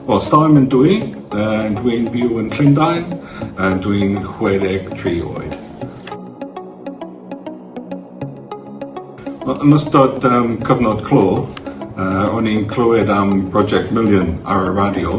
Wel, stori mynd dwi, uh, dwi'n byw yn Llundain, uh, dwi'n 63 oed. Wel, yn ystod um, cyfnod clo, uh, o'n i'n clywed am Project Million ar y radio,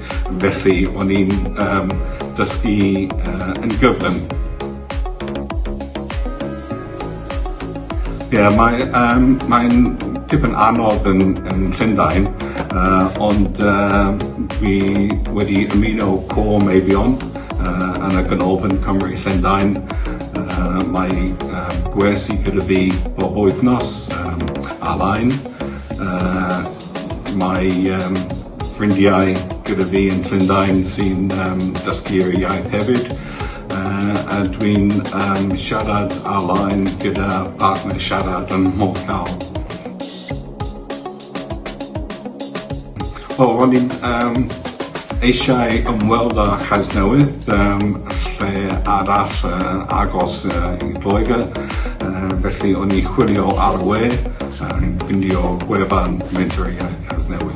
Felly, o'n i'n yym dysgu yy yn gyflym. Ie, mae yym mae'n dipyn anodd yn yn Llundain, yy ond yy dwi wedi ymuno Côr Meibion yy yn y Ganolfan Cymry Llundain, yy mae yym gwersi gyda fi bob wythnos yym ar-lein, yy mae yym ffrindiau gyda fi yn Llundain sy'n um, dysgu'r iaith hefyd. Uh, a dwi'n um, siarad ar-lein gyda partner siarad yn mhob llaw. O, ro'n i'n um, eisiau ymweld â Chasnewydd, um, lle arall uh, agos uh, i Lloegr, uh, felly o'n i chwilio ar y we, uh, ffindio gwefan Mentor Iaith Casnewydd.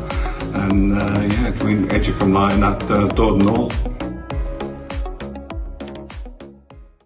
And uh, yeah, dwi'n edrych ymlaen at uh, dod nôl.